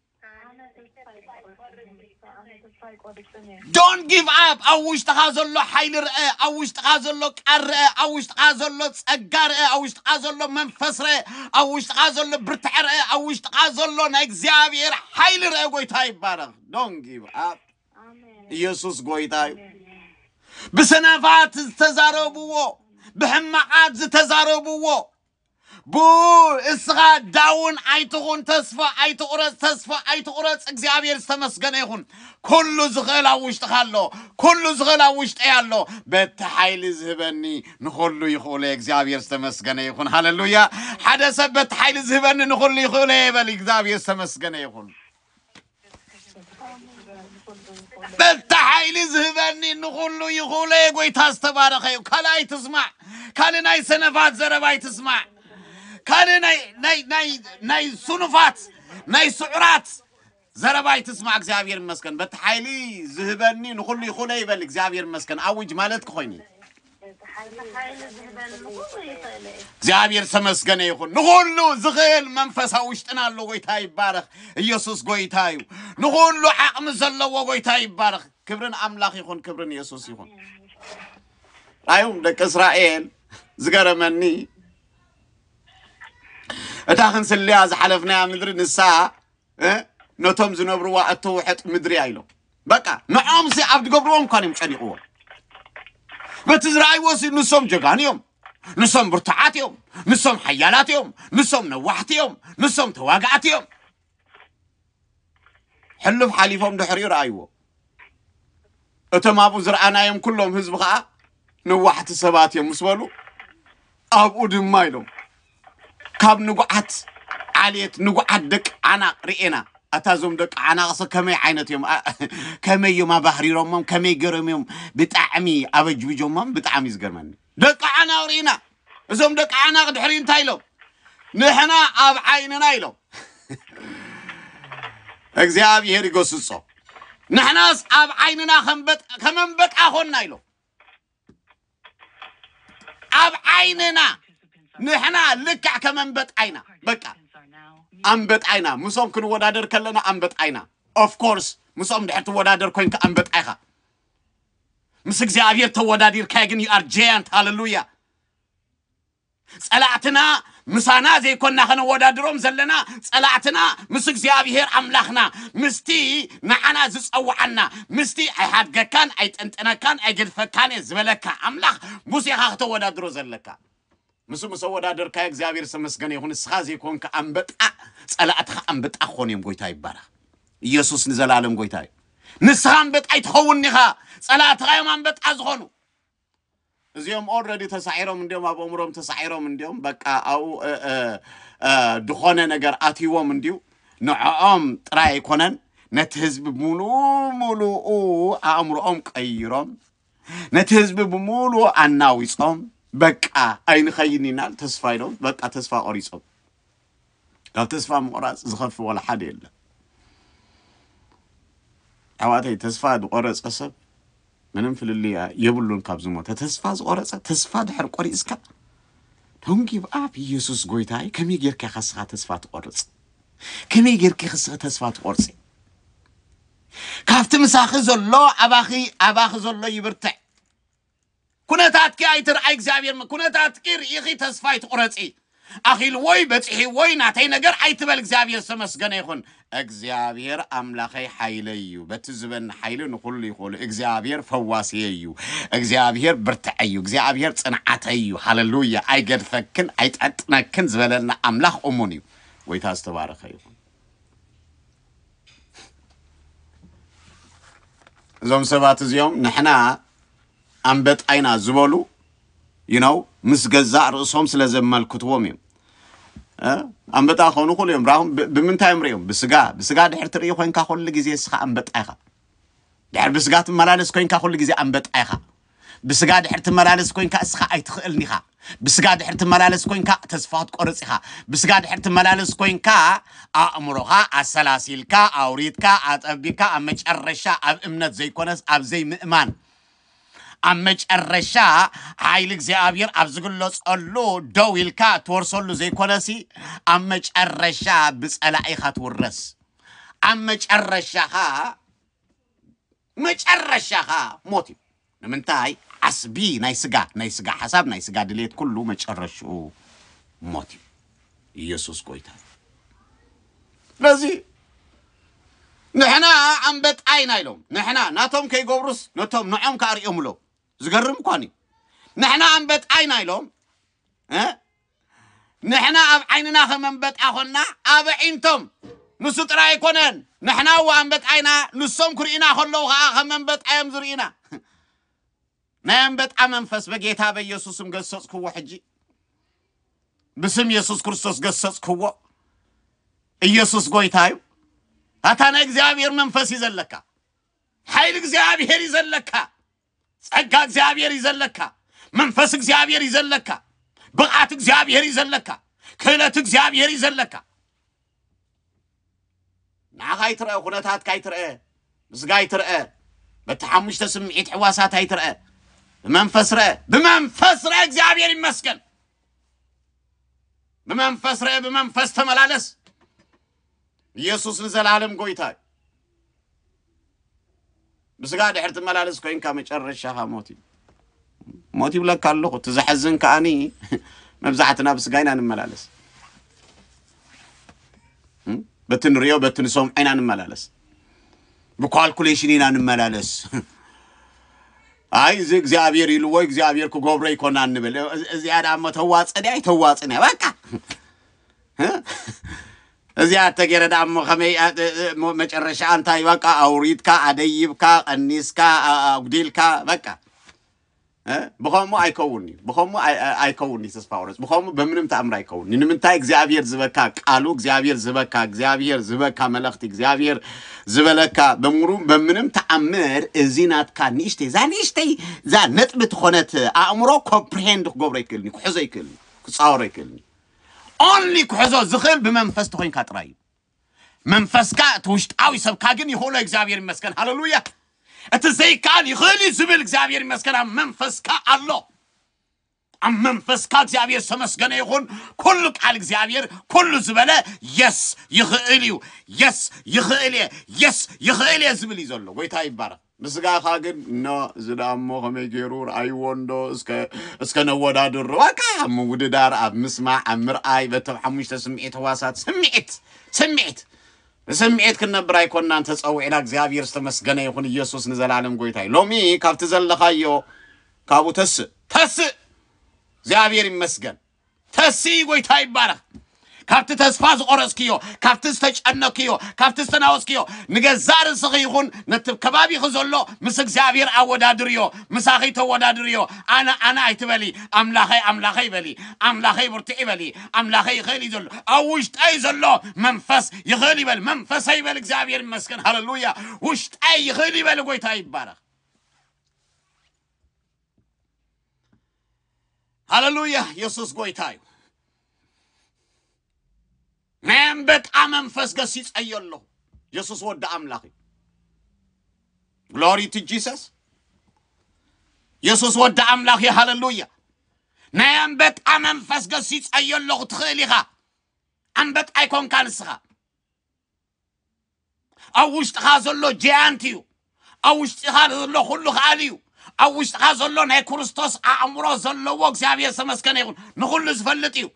ዶን ጊቭ ኣፕ ኣብ ውሽጥኻ ዘሎ ሓይሊ ርአ ኣብ ውሽጥኻ ዘሎ ቃል ርአ ኣብ ውሽጥኻ ዘሎ ጸጋ ርአ ኣብ ውሽጥኻ ዘሎ መንፈስ ርአ ኣብ ውሽጥኻ ዘሎ ብርትዐ ርአ ኣብ ውሽጥኻ ዘሎ ናይ እግዚኣብሔር ሓይሊ ርአ ጎይታ ይባረኽ ዶን ጊቭ ኣፕ ኢየሱስ ጎይታ እዩ ብሰነፋት ዝተዛረብዎ ብሕማቃት ዝተዛረብዎ ብእኡ እስኻ ዳውን ኣይትኹን፣ ተስፋ ኣይትቑረጽ፣ ተስፋ ኣይትቑረጽ፣ እግዚኣብሔር ዝተመስገነ ይኹን። ኩሉ ዝኽእል ኣብ ውሽጥኻ ኣሎ፣ ኩሉ ዝኽእል ኣብ ውሽጠይ ኣሎ፣ በቲ ሓይሊ ዝህበኒ ንኹሉ ይኽእሎ እየ፣ እግዚኣብሔር ዝተመስገነ ይኹን፣ ሃለሉያ። ሓደ ሰብ በቲ ሓይሊ ዝህበኒ ንኹሉ ይኽእሎ እየ ይበል፣ እግዚኣብሔር ዝተመስገነ ይኹን። በታ ሓይሊ ዝህበኒ ንኹሉ ይኹለ ጎይታ ዝተባረኸ እዩ ካልእ ኣይትስማዕ ካልእ ናይ ሰነፋት ዘረባ ኣይትስማዕ ካልእ ናይ ናይ ናይ ናይ ስኑፋት ናይ ስዑራት ዘረባ ኣይትስማዕ እግዚኣብሔር ይመስገን በቲ ሓይሊ ዝህበኒ ንኹሉ ይኹለ ይበል እግዚኣብሔር ይመስገን ኣውጅ ማለት ክኾይኑ እዩ እግዚኣብሔር ተመስገነ ይኹን ንኹሉ ዝኽእል መንፈሳ ውሽጥና ኣሎ ጎይታ ይባረኽ ኢየሱስ ጎይታ እዩ ንኹሉ ዓቕሚ ዘለዎ ጎይታ ይባረኽ ክብርን ኣምላኽ ይኹን ክብርን ኢየሱስ ይኹን ኣዮም ደቂ እስራኤል ዝገረመኒ እታ ክንስልያ ዝሓለፍናያ ምድሪ ንሳ እ ነቶም ዝነብርዋ እተውሕጥ ምድሪ እያ ኢሎም በቃ ንዖምሲ ኣብ ዝገብርዎም እኳን እዮም ጨኒቕዎም በቲ ዝረኣይዎ ሲ ንሶም ጀጋኑ እዮም ንሶም ብርቱዓት እዮም ንሶም ሓያላት እዮም ንሶም ነዋሕቲ እዮም ንሶም ተዋጋእቲ እዮም ሕሉፍ ሓሊፎም ድሕሪኡ ረኣይዎ እቶም ኣብኡ ዝረኣናዮም ኩሎም ህዝቢ ከዓ ነዋሕቲ ሰባት እዮም ምስ በሉ ኣብኡ ድማ ኢሎም ካብ ንጉዓት ዓሌት ንጉዓት ደቂ ዓናቕ ርኤና ኣታ እዞም ደቂ ዓናቕሰ ከመይ ዓይነት እዮም ኣ- ከመይ እዮም ኣባህሪሮሞም ከመይ ገይሮም እዮም ብጣዕሚ ኣበጅብጆሞም ብጣዕሚ እዩ ዝገርመኒ ደቂ ዓናቕ ርኢና እዞም ደቂ ዓናቕ ድሕሪ እንታይ ኢሎም ንሕና ኣብ ዓይንና ኢሎም እግዚኣብሔር ይገስጾ ንሕናስ ኣብ ዓይንና ከመንበጣ ኮና ኢሎም ኣብ ዓይንና ንሕና ልክዕ ከመንበጣ ኢና በቃ ኣንበጣ ኢና ምስኦም ክንወዳደር ከለና ኣንበጣ ኢና ኦፍኮርስ ምስኦም ድሕር ትወዳደር ኮንካ ኣንበጣ ኢኻ ምስ እግዚኣብሔር ተወዳዲርካዮ ግን ዩ ኣር ጀያንት ሃለሉያ ጸላእትና ምሳና ዘይኮና ከነወዳድሮም ዘለና ጸላእትና ምስ እግዚኣብሔር ኣምላኽና ምስቲ ንዓና ዝጸውዓና ምስቲ ኣይሓድገካን ኣይጠንጠነካን ኣይገድፈካን እየ ዝበለካ ኣምላኽ ሙሴኻ ክተወዳድሮ ዘለካ ንሱ ምስ ኣወዳደርካዮ እግዚኣብሔር ዝተመስገነ ይኹን ንስኻ ዘይኮንካ ኣምበጣ ፀላእትኻ ኣምበጣ ክኾኑ እዮም ጎይታ ይባረኽ ኢየሱስ ንዘላለም ጎይታ እዩ ንስኻ ኣምበጣ ኣይትኸውን ኢኻ ፀላእትኻ እዮም ኣምበጣ ዝኾኑ እዚኦም ኦልረዲ ተሳዒሮም እንዲዮም ኣብ ኣእምሮም ተሳዒሮም እንዲዮም በቃ ኣብኡ እ፣ እ፣ እ፣ ዝኾነ ነገር ኣትይዎም እንዲዩ ንዕኦም ጥራይ ኣይኮነን ነቲ ህዝቢ ሙሉ ሙሉኡ ኣእምሮኦም ቀይሮም ነቲ ህዝቢ ብምሉኡ ኣናዊጾም በቃ ኣይንኸይን ኢና ተስፋ ኢሎም በቃ ተስፋ ቆሪጾም ካብ ተስፋ ምቑራጽ ዝኸፍ ወላ ሓደ የለ ኣሕዋተይ ተስፋ ዝቆረጸ ሰብ ምንም ፍልልያ የብሉን ካብ ዝሞተ ተስፋ ዝቆረጸ ተስፋ ድሕር ቆሪጽካ ዶን ጊቭ ኣፕ ኢየሱስ ጎይታይ ከመይ ጌርካ ከስኻ ተስፋ ትቆርጽ ከመይ ጌርኪ ክስኺ ተስፋ ትቆርጺ ካብቲ ምሳኺ ዘሎ ኣባኺ ኣባኺ ዘሎ ይብርትዕ። ኩነታትኪ ኣይትርኣይ እግዚኣብሔር ም- ኩነታትኪ ርኢኺ ተስፋ ኣይትቑረጺ። ኣኺልዎይ በጺሒዎይ ናተይ ነገር ኣይትበል እግዚኣብሔር ዝተመስገነ ይኹን። እግዚኣብሔር ኣምላኸይ ሓይለይ እዩ በቲ ዝበኒ ሓይሊ ንኹሉ ይኽእሉ እግዚኣብሔር ፈዋስየይ እዩ እግዚኣብሔር ብርትዐይ እዩ እግዚኣብሔር ጽንዓተይ እዩ ሃለሉያ ኣይገድፈክን ኣይጠጥነክን ዝበለና ኣምላኽ እሙን እዩ። ጎይታ ዝተባረኸ ይኹን። እዞም ሰባት እዚኦም ንሕና ኣንበጣይና ዝበሉ ይነው ምስ ገዛእ ርእሶም ስለ ዘመልክትዎም እዮም ኣንበጣ ክኾኑ ይኽእሉ እዮም ራኹም ብምንታይ እዮም ሪኦም ብስጋ ብስጋ ድሕር ትርኢ ኮንካ ኩሉ ግዜ እስኻ ኣንበጣ ኢኻ ድሕር ብስጋ ትመላለስ ኮንካ ኩሉ ግዜ ኣንበጣ ኢኻ ብስጋ ድሕሪ ትመላለስ ኮይንካ እስኻ ኣይትኽእልን ኢኻ ብስጋ ድሕሪ ትመላለስ ኮይንካ ተስፋ ክትቆርጽ ኢኻ ብስጋ ድሕሪ ትመላለስ ኮይንካ ኣእምሮኻ ኣሰላሲልካ ኣውሪትካ ኣጠቢካ ኣብ መጨረሻ ኣብ እምነት ዘይኮነስ ኣብ ዘይምእማን ኣብ መጨረሻ ሓይሊ እግዚኣብሔር ኣብ ዝግለጸሉ ደው ኢልካ እትወርሰሉ ዘይኮነሲ ኣብ መጨረሻ ብጸላኢኻ ትውረስ ኣብ መጨረሻኻ መጨረሻኻ ሞት እዩ ንምንታይ ዓስቢ ናይ ስጋ ናይ ስጋ ሓሳብ ናይ ስጋ ድሌት ኩሉ መጨረሽኡ ሞት እዩ ኢየሱስ ጎይታ እዩ ስለዚ ንሕና ኣንበጣ ኢና ኢሎም ንሕና ናቶም ከይገብሩስ ነቶም ንዖም ከኣ ሪኦምሎም ዝገርም እኳን እዩ ንሕና ኣንበጣ ኢና ኢሎም እ ንሕና ኣብ ዓይንና ከም ኣንበጣ ኮና ኣብ ኣዒንቶም ንሱ ጥራይ ኣይኮነን ንሕና እወ ኣንበጣ ኢና ንሶም ክርእዩና ከለዉ ከኣ ከም ኣንበጣ እዮም ዝርእዩና ናይ ኣንበጣ መንፈስ በጌታ በኢየሱስም ገሰጽክዎ ሕጂ ብስም የሱስ ክርስቶስ ገሰጽክዎ ኢየሱስ ጎይታ እዩ ኣታ ናይ እግዚኣብሔር መንፈስ እዩ ዘለካ ሓይሊ እግዚኣብሔር እዩ ዘለካ ጸጋ እግዚኣብሔር እዩ ዘለካ መንፈስ እግዚኣብሔር እዩ ዘለካ ብቕዓት እግዚኣብሔር እዩ ዘለካ ክእለት እግዚኣብሔር እዩ ዘለካ ንዓኻ ይትረአ ኩነታትካ ይትረአ ምስጋ ይትረአ በቲ ሓሙሽተ ስምዒት ሕዋሳት ኣይትረአ ብመንፈስ ረአ ብመንፈስ ረአ እግዚኣብሔር ይመስገን ብመንፈስ ረአ ብመንፈስ ተመላለስ ኢየሱስ ንዘልኣለም ጎይታ እዩ። ብስጋ ድሕር ትመላለስ ኮይንካ መጨረሻኻ ሞት እዩ። ሞት ይብለካ ኣለኹ እቲ ዘሐዝን ከዓኒ መብዛሕትና ብስጋ ኢና ንመላለስ እም? በቲ ንሪዮ በቲ ንሰምዖ ኢና ንመላለስ ብኳልኩሌሽን ኢና ንመላለስ ኣይ እዚ እግዚኣብሔር ኢልዎ እግዚኣብሔር ክገብሮ ይኮና ንብል እዚ- እዚኣ ዳሞ ተዋፅን እያ ኣይተዋፅን እያ በቃ እዚኣ እተገይረ ደኣ እሞ ከመይ እሞ መጨረሻ እንታይ በቃ ኣውሪድካ ኣደይብካ ቀኒስካ ኣጉዲልካ በቃ ብኸምኡ ኣይከውን እዩ ብኸምኡ ኣይከውን እዩ ተስፋ ወረስ ብኸምኡ በምንም ተኣምር ኣይከውን ንምንታይ እግዚኣብሔር ዝበካ ቃሉ እግዚኣብሔር ዝበካ እግዚኣብሔር ዝበካ መለኽቲ እግዚኣብሔር ዝበለካ በምሩ በምንም ተኣምር እዚ ናትካ ንእሽተይ እዛ ንእሽተይ እዛ ነጥቢ ትኾነት ኣእምሮ ኮምፕሪሄንድ ክገብሮ ይክእልኒ ክሕዞ ይክእልኒ ክፃወሮ ይክእልኒ Only ክሕዞ ዝኽእል ብመንፈስ ተኾይንካ ጥራይ እዩ መንፈስካ እቲ ውሽጣዊ ሰብካ ግን ይኽእሎ እግዚኣብሔር ይመስገን ሃለሉያ እቲ ዘይከኣል ይኽእል እዩ ዝብል እግዚኣብሔር ይመስገን ኣብ መንፈስካ ኣሎ ኣብ መንፈስካ እግዚኣብሔር ዝተመስገነ ይኹን ኩሉ ቃል እግዚኣብሔር ኩሉ ዝበለ የስ ይኽእል እዩ የስ ይኽእል እየ የስ ይኽእል እየ ዝብል እዩ ዘሎ ጎይታ ይባረክ ንስጋኻ ግን እኖ እዚ ደኣ እሞ ከመይ ገይሩ ርኣይዎ እንዶ እስከ እስከ ነወዳድሮ በቃ ኣብ ምውድዳር ኣብ ምስማዕ ኣብ ምርኣይ በቶም ሓሙሽተ ስምዒት ህዋሳት ስምዒት ስምዒት ብስምዒት ክንነብር ኣይኮናን ተጸዊዕና እግዚኣብሔር ዝተመስገነ ይኹን ኢየሱስ ንዘላለም ጎይታ እዩ ሎሚ ካብቲ ዘለኻዮ ካብኡ ተስእ ተስእ እግዚኣብሔር ይመስገን ተሲ ጎይታ ይባረኽ ካብቲ ተስፋ ዝቆረጽክዮ ካብቲ ዝተጨነክዮ ካብቲ ዝተናወስክዮ ንገዛእ ርእስኺ ይኹን ነቲ ከባቢኺ ዘሎ ምስ እግዚኣብሔር ኣወዳድርዮ ምሳኺ ተወዳድርዮ ኣነ ኣነ ኣይትበሊ ኣምላኸይ ኣምላኸይ በሊ ኣምላኸይ ብርትዕ ይበሊ ኣምላኸይ ይኽእል እዩ ዘሎ ኣብ ውሽጠይ ዘሎ መንፈስ ይኽእል ይበል መንፈሰይ ይበል እግዚኣብሔር ይመስገን ሃለሉያ ውሽጠይ ይኽእል ይበል ጎይታ ይባረኽ ሃለሉያ የሱስ ጎይታ እዩ ናይ ኣንበጣ መንፈስ ገሲጸዮ ኣለኹ የሱስ ወዲ ኣምላኽ እዩ ግሎሪ ቱ ጂሰስ የሱስ ወዲ ኣምላኽ እዩ ሃለሉያ ናይ ኣንበጣ መንፈስ ገሲጸዮ ኣለኹ ትኽእል ኢኻ ኣንበጣ ኣይኮንካ ንስኻ ኣብ ውሽጥኻ ዘሎ ጀያንት እዩ ኣብ ውሽጥኻ ዘሎ ኩሉ ከኣል እዩ ኣብ ውሽጥኻ ዘሎ ናይ ክርስቶስ ኣእምሮ ዘለዎ እግዚኣብሔር ዝተመስገነ ይኹን ንኹሉ ዝፈልጥ እዩ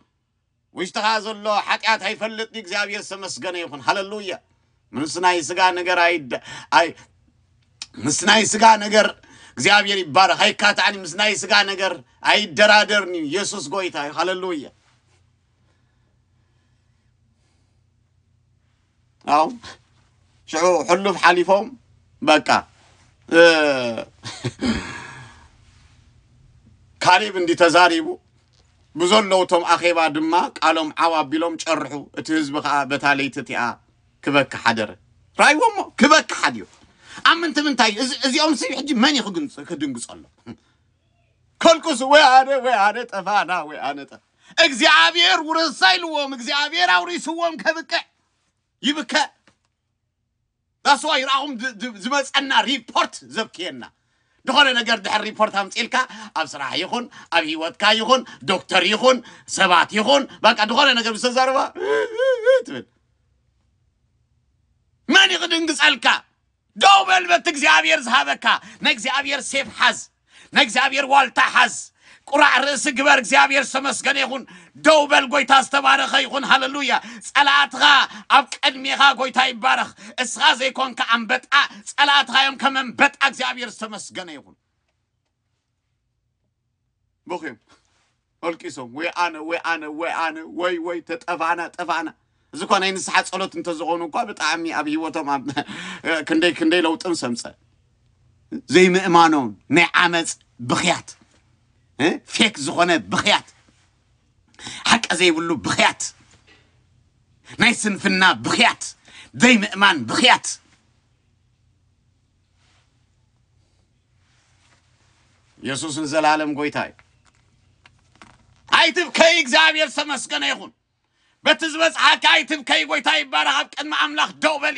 ውሽጥኻ ዘሎ ሓጢኣት ኣይፈልጥ ድዩ እግዚኣብሔር ዝተመስገነ ይኹን ሃለሉያ ምስ ናይ ስጋ ነገር ኣይደ ኣይ ምስ ናይ ስጋ ነገር እግዚኣብሔር ይባረክ ኣይካትዕን ምስ ናይ ስጋ ነገር ኣይደራደርን እዩ ኢየሱስ ጎይታ እዩ ሃለሉያ ኣው ሽዑ ሕሉፍ ሓሊፎም በቃ ካሊብ እንዲ ተዛሪቡ ብዘለዉ እቶም ኣኼባ ድማ ቃሎም ዓው ኣቢሎም ጨርሑ እቲ ህዝቢ ከዓ በታ ለይቲ እቲኣ ክበክ ሓደረ ራይዎ እሞ ክበክ ሓድዮ ኣብ ምንቲ ምንታይ እዚኦም ሲ ሕጂ መን እዩ ክድንግፀሎም ከልቅሱ ወይ ኣነ ወይ ኣነ ጠፋና ወይ ኣነ ጠፋ እግዚኣብሔር ውርሳ ኢልዎም እግዚኣብሔር ኣውሪስዎም ከብቅዕ ይብከ ዳስዋ ይርኣኹም ዝመፀና ሪፖርት ዘብክየና ዝኾነ ነገር ድሕር ሪፖርት ኣምፂልካ ኣብ ስራሕ ይኹን ኣብ ሂወትካ ይኹን ዶክተር ይኹን ሰባት ይኹን በቃ ዝኾነ ነገር ምስ ተዛረባ ትብል መን ይኽድንግፀልካ ደው በል በቲ እግዚኣብሔር ዝሃበካ ናይ እግዚኣብሔር ሴፍ ሓዝ ናይ እግዚኣብሔር ዋልታ ሓዝ ቁራዕ ርእሲ ግበር እግዚኣብሔር ዝተመስገነ ይኹን ደው በል ጎይታ ዝተባረኸ ይኹን ሃለሉያ ጸላእትኻ ኣብ ቅድሜኻ ጎይታ ይባረኽ እስኻ ዘይኮንካ ኣንበጣ ጸላእትኻ እዮም ከም ኣንበጣ እግዚኣብሔር ዝተመስገነ ይኹን በኺዮም ኣልቂሶም ወይ ኣነ ወይ ኣነ ወይ ኣነ ወይ ወይ ተጠፋእና ጠፋእና እዚ እኳ ናይ ንስሓ ጸሎት እንተዝኾኑ እኳ ብጣዕሚ ኣብ ሂወቶም ክንደይ ክንደይ ለውጢ ምስ ኣምፀ ዘይምእማኖም ናይ ዓመፅ ብኽያት ፌክ ዝኾነ ብኽያት ሓቂ ዘይብሉ ብኽያት ናይ ስንፍና ብኽያት ዘይምእማን ብኽያት ኢየሱስ ንዘላለም ጎይታ እዩ። ኣይትብከይ እግዚኣብሔር ዝተመስገነ ይኹን በቲ ዝበፅሓካ ኣይትብከይ ጎይታ ይባረኽ ኣብ ቅድሚ ኣምላኽ ደው በሊ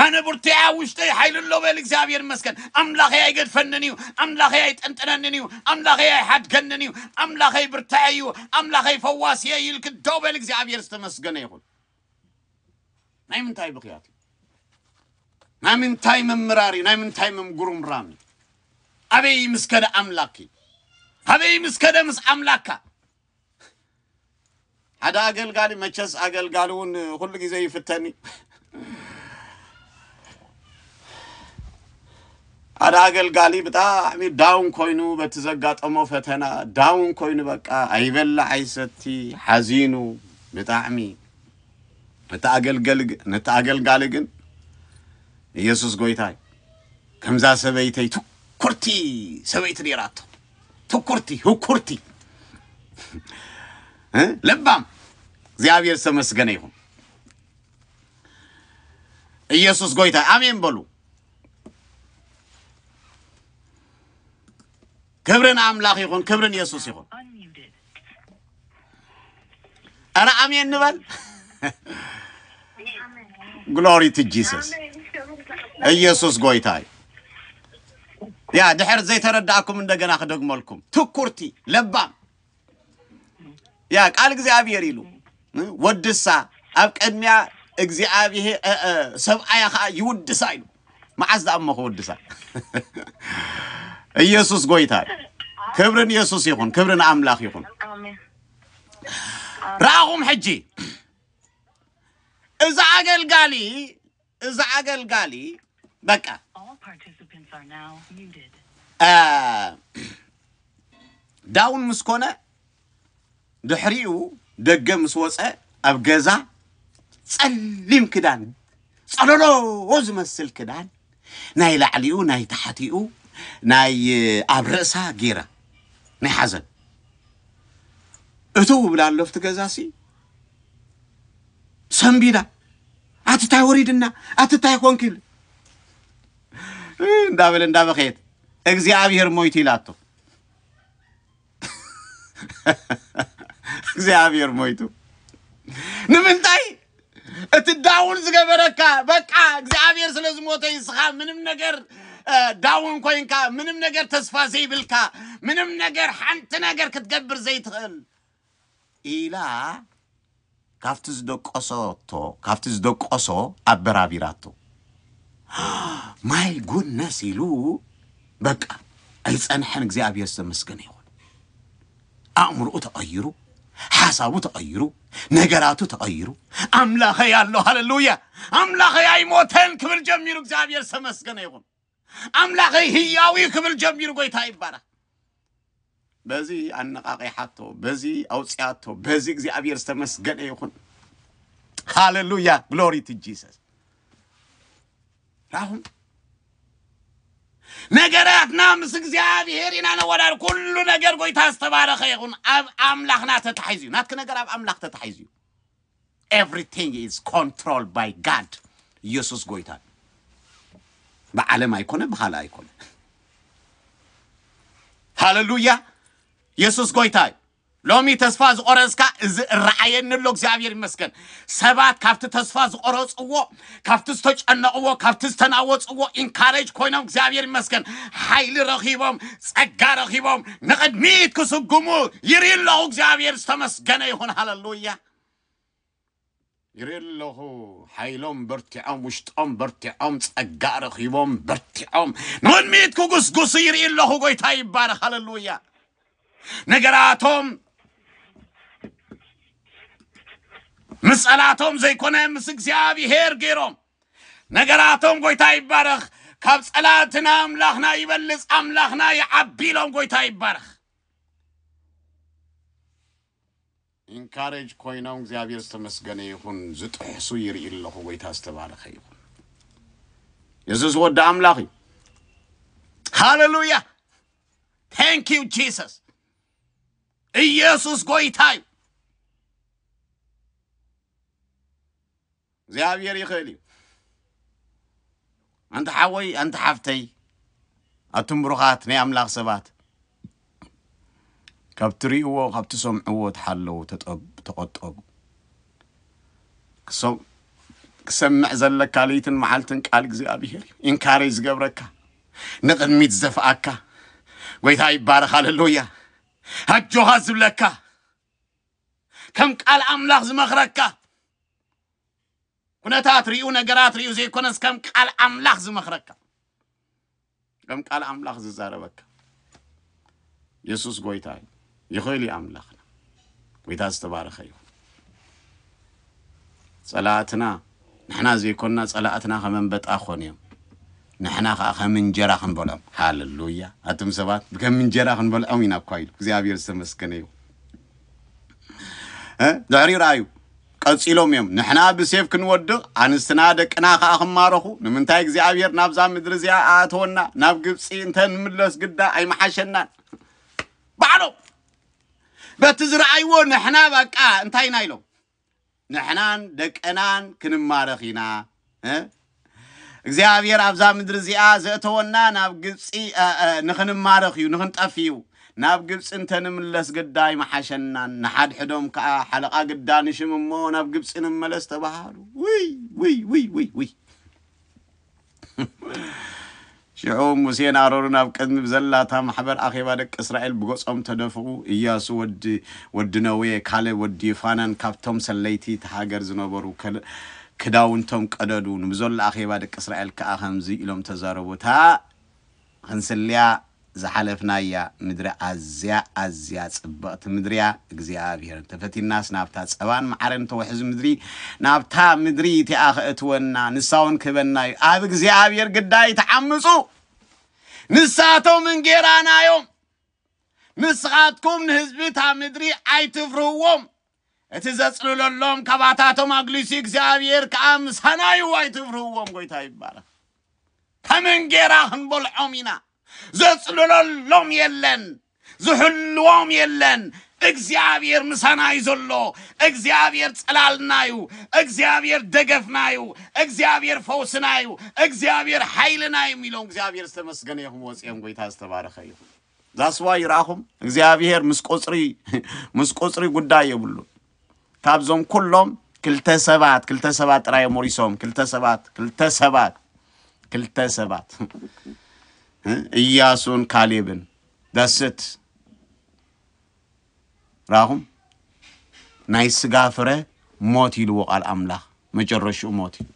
ኣነ ቡርትያ ውሽጠይ ሓይሊ ኣሎ በል እግዚኣብሔር ይመስገን ኣምላኸይ ኣይገድፈንን እዩ ኣምላኸይ ኣይጠንጥነንን እዩ ኣምላኸይ ኣይሓድገንን እዩ ኣምላኸይ ብርታዐ እዩ ኣምላኸይ ፈዋስየ እዩ ኢልክ ደው በል እግዚኣብሔር ዝተመስገነ ይኹን ናይ ምንታይ ብኽያት እዩ? ናይ ምንታይ ምምራር እዩ? ናይ ምንታይ ምምጉርምራም እዩ? ኣበይ ምስ ከደ ኣምላክ እዩ? ኣበይ ምስ ከደ ምስ ኣምላካ? ሓደ ኣገልጋሊ መቸስ ኣገልጋሊ እውን ኩሉ ግዜ ይፍተን እዩ። ሓደ ኣገልጋሊ ብጣዕሚ ዳውን ኮይኑ በቲ ዘጋጠሞ ፈተና ዳውን ኮይኑ በቃ ኣይበላዕ ኣይሰቲ ሓዚኑ ብጣዕሚ ነቲ ኣገልገሊ ግ- ነቲ ኣገልጋሊ ግን ኢየሱስ ጎይታ እዩ ከምዛ ሰበይተይ ትኩርቲ ሰበይቲ ነይራቶ ትኩርቲ ህኩርቲ እ? ለባም እግዚኣብሔር ዝተመስገነ ይኹን ኢየሱስ ጎይታ ኣሜን በሉ። ክብሪ ንኣምላኽ ይኹን፣ ክብሪ ንየሱስ ይኹን። ኧረ ኣሜን ንበል። ግሎሪ ቱ ጂሰስ ኢየሱስ ጎይታ እዩ። ያ ድሕር ዘይተረዳእኩም እንደገና ክደግመልኩም ትኩርቲ ለባም ያ ቃል እግዚኣብሔር ኢሉ ወድሳ ኣብ ቅድሚያ እግዚኣብሔር ሰብኣያ ከዓ ይውድሳ ኢሉ መዓዝ ዳኣ እሞ ክውድሳ ኢየሱስ ጎይታ ክብርን ኢየሱስ ይኹን ክብርን ኣምላኽ ይኹን ረኣኹም ሕጂ እዛ ኣገልጋሊ እዛ ኣገልጋሊ በቃ All participants are now muted. ዳውን ምስ ኮነ ድሕሪኡ ደገ ምስ ወፀ ኣብ ገዛ ፀሊም ክዳን ፀሎሎ ዝመስል ክዳን ናይ ላዕሊኡ ናይ ታሕቲኡ ናይ ኣብ ርእሳ ጌራ ናይ ሓዘን እትው ብላ ኣለፍቲ ገዛሲ ሰንቢዳ ኣቲ ታይ ወሪድና ኣቲ ታይ ኮንክ ኢሉ እንዳበለ እንዳበኸየት እግዚኣብሔር ሞይቱ ኢላቶ እግዚኣብሔር ሞይቱ ንምንታይ እቲ ዳውን ዝገበረካ በቃ እግዚኣብሔር ስለ ዝሞተ ይስኻ ምንም ነገር እ፣ ዳውን ኮይንካ ምንም ነገር ተስፋ ዘይብልካ ምንም ነገር ሓንቲ ነገር ክትገብር ዘይትኽእል ኢላ ካብቲ ዝደቆሶቶ ካብቲ ዝደቆሶ ኣበራቢራቶ። ማይ ጉድነስ ኢሉ በቃ ኣይጸንሐን። እግዚኣብሔር ዝተመስገነ ይኹን። ኣእምሮኡ ተቐይሩ፣ ሓሳቡ ተቐይሩ፣ ነገራቱ ተቐይሩ። ኣምላኸይ ኣሎ ሃለሉያ፣ ኣምላኸይ ኣይሞተን ክብል ጀሚሩ። እግዚኣብሔር ዝተመስገነ ይኹን። ኣምላኸይ ህያው እዩ ክብል ጀሚሩ ጎይታ ይባረኽ በዚ ኣነቃቂሓቶ በዚ ኣውፅያቶ በዚ እግዚኣብሔር ዝተመስገነ ይኹን ሃሌሉያ ግሎሪ ቱ ጂሰስ ራኹም ነገራትና ምስ እግዚኣብሔር ኢና ነወዳድ ኩሉ ነገር ጎይታ ዝተባረኸ ይኹን ኣብ ኣምላኽና ተታሒዙ እዩ ናትኪ ነገር ኣብ ኣምላኽ ተታሒዙ እዩ ኤቭሪቲንግ ኢዝ ኮንትሮልድ ባይ ጋድ ኢየሱስ ጎይታ እዩ። ብዓለም ኣይኮነ ብኻልእ ኣይኮነ። ሃለሉያ ኢየሱስ ጎይታ እዩ። ሎሚ ተስፋ ዝቆረጽካ እዚ እረኣየኒ ኣሎ እግዚኣብሔር ይመስገን። ሰባት ካብቲ ተስፋ ዝቆረጽዎ ካብቲ ዝተጨነቕዎ ካብቲ ዝተናወፅዎ ኢንካሬጅ ኮይኖም እግዚኣብሔር ይመስገን ሓይሊ ረኺቦም ጸጋ ረኺቦም ንቕድሚት ክስጉሙ ይርኢ ኣለኹ እግዚኣብሔር ዝተመስገነ ይኹን ሃለሉያ ይርኢ ኣለኹ ሓይሎም በርቲዖም ውሽጦም በርቲዖም ጸጋ ረኺቦም በርቲዖም ንቕድሚት ክጉስጉሱ ይርኢ ኣለኹ ጎይታ ይባረኽ ሃለሉያ ነገራቶም ምስ ጸላቶም ዘይኮነ ምስ እግዚኣብሔር ገይሮም ነገራቶም ጎይታ ይባረኽ ካብ ጸላትና ኣምላኽና ይበልጽ ኣምላኽና ይዓቢ ኢሎም ጎይታ ይባረኽ ኢንካሬጅ ኮይኖም እግዚኣብሔር ዝተመስገነ ይኹን ዝጥሕሱ ይርኢ ኣለኹ ጎይታ ዝተባረኸ ይኹን የሱስ ወዲ ኣምላኽ እዩ ሃሌሉያ ታንክ ዩ ጂሰስ ኢየሱስ ጎይታ እዩ እግዚኣብሔር ይኽእል እዩ ኣንቲ ሓወይ ኣንቲ ሓፍተይ ኣቱም ብሩኻት ናይ ኣምላኽ ሰባት ካብ ትርእይዎ ካብ ትሰምዕዎ ተሓለዉ ተቖጠቡ ክሰምዕ ዘለካ ለይትን መዓልትን ቃል እግዚኣብሄር እዩ ኢንካሬጅ ዝገብረካ ንቕድሚት ዝደፍኣካ ጎይታ ይባረኽ ኣለሉያ ኣጆኻ ዝብለካ ከም ቃል ኣምላኽ ዝመኽረካ ኩነታት ሪኡ ነገራት ሪኡ ዘይኮነስ ከም ቃል ኣምላኽ ዝመኽረካ ከም ቃል ኣምላኽ ዝዛረበካ የሱስ ጎይታ እዩ ይኽእል እዩ ኣምላኽና ጎይታ ዝተባረኸ እዩ ጸላኣትና ንሕና ዘይኮና ጸላኣትና ከም ኣንበጣ ክኮኑ እዮም ንሕና ከኣ ከም እንጀራ ክንበልዖም ሃለሉያ ኣቱም ሰባት ከም እንጀራ ክንበልዖም ኢና እኳ ኢሉ እግዚኣብሔር ዝተመስገነ ይሁን ድሕሪኡ ረኣዩ ቀጺሎም እዮም ንሕና ብሴፍ ክንወድቕ ኣንስትና ደቅና ከኣ ክማረኹ ንምንታይ እግዚኣብሔር ናብዛ ምድሪ እዚኣ ኣእተወና ናብ ግብፂ እንተ ንምለስ ግዳ ኣይመሓሸናን ባዕሎም በቲ ዝረኣይዎ ንሕና በቃ እንታይና ኢሎም ንሕናን ደቅናን ክንማረኽ ኢና እ እግዚኣብሔር ኣብዛ ምድሪ እዚኣ ዘእተወና ናብ ግብፂ እ፣ እ፣ ንኽንማረኽ እዩ ንኽንጠፍ እዩ ናብ ግብፂ እንተንምለስ ግዳ ይመሓሸናን ንሓድሕዶም ከዓ ሓለቓ ግዳ ንሽም እሞ ናብ ግብፂ ንመለስ ተባሃሉ ውይ ውይ ውይ ውይ ውይ ሽዑ ሙሴን ኣሮንን ኣብ ቅድሚ ብዘላታ ማሕበር ኣኼባ ደቂ እስራኤል ብገጾም ተደፍኡ፣ እያሱ ወዲ ወዲ ነዌ፣ ካሌብ ወዲ ይፋነን ካብቶም ሰለይቲ እታ ሃገር ዝነበሩ ክዳውንቶም ቀደዱ፣ ንብዘሎ ኣኼባ ደቂ እስራኤል ከኣ ከምዚ ኢሎም ተዛረቡ፣ እታ። ኽንስልያ ዝሓለፍናያ ምድሪ ኣዝያ ኣዝያ ጽብቕቲ ምድሪ እያ። እግዚኣብሄር እንተ ፈቲንናስ ናብታ ጸባን መዓርን እተውሕዝ ምድሪ ናብታ ምድሪ እቲኣ ኸእትወና ንሳ ውን ክህበና እዩ። ኣብ እግዚኣብሄር ግዳ ኣይትዓምጹ ንሳቶም እንጌራና እዮም። ንስኻትኩም ንህዝቢ እታ ምድሪ ኣይትፍርህዎም። እቲ ዘጽልለሎም ካባታቶም ኣግሊሱ እግዚኣብሔር ከኣ ምሳናዩ ኣይትፍርህዎም ጎይታ ይባረኽ ከም እንጌራ ክንበልዖም ኢና ዘጽልለሎም የለን ዝሕልዎም የለን እግዚኣብሔር ምሳናዩ ዘሎ እግዚኣብሔር ጽላልናዩ እግዚኣብሔር ደገፍናዩ እግዚኣብሔር ፈውስናዩ እግዚኣብሔር ሓይልናዩ ኢሎም እግዚኣብሔር ዝተመስገነ ይኹም ወጽኦም ጎይታ ዝተባረኸ ይኹም ዛስዋይ ይርኣኹም እግዚኣብሄር ምስ ቁፅሪ ምስ ቁፅሪ ጉዳይ የብሉን ካብዞም ኩሎም ክልተ ሰባት ክልተ ሰባት ጥራይ እዮም ወሪሶም ክልተ ሰባት ክልተ ሰባት ክልተ ሰባት እያሱን ካሌብን ዳስት ራኹም ናይ ስጋ ፍረ ሞት ኢልዎ ቃል ኣምላኽ መጨረሽኡ ሞት እዩ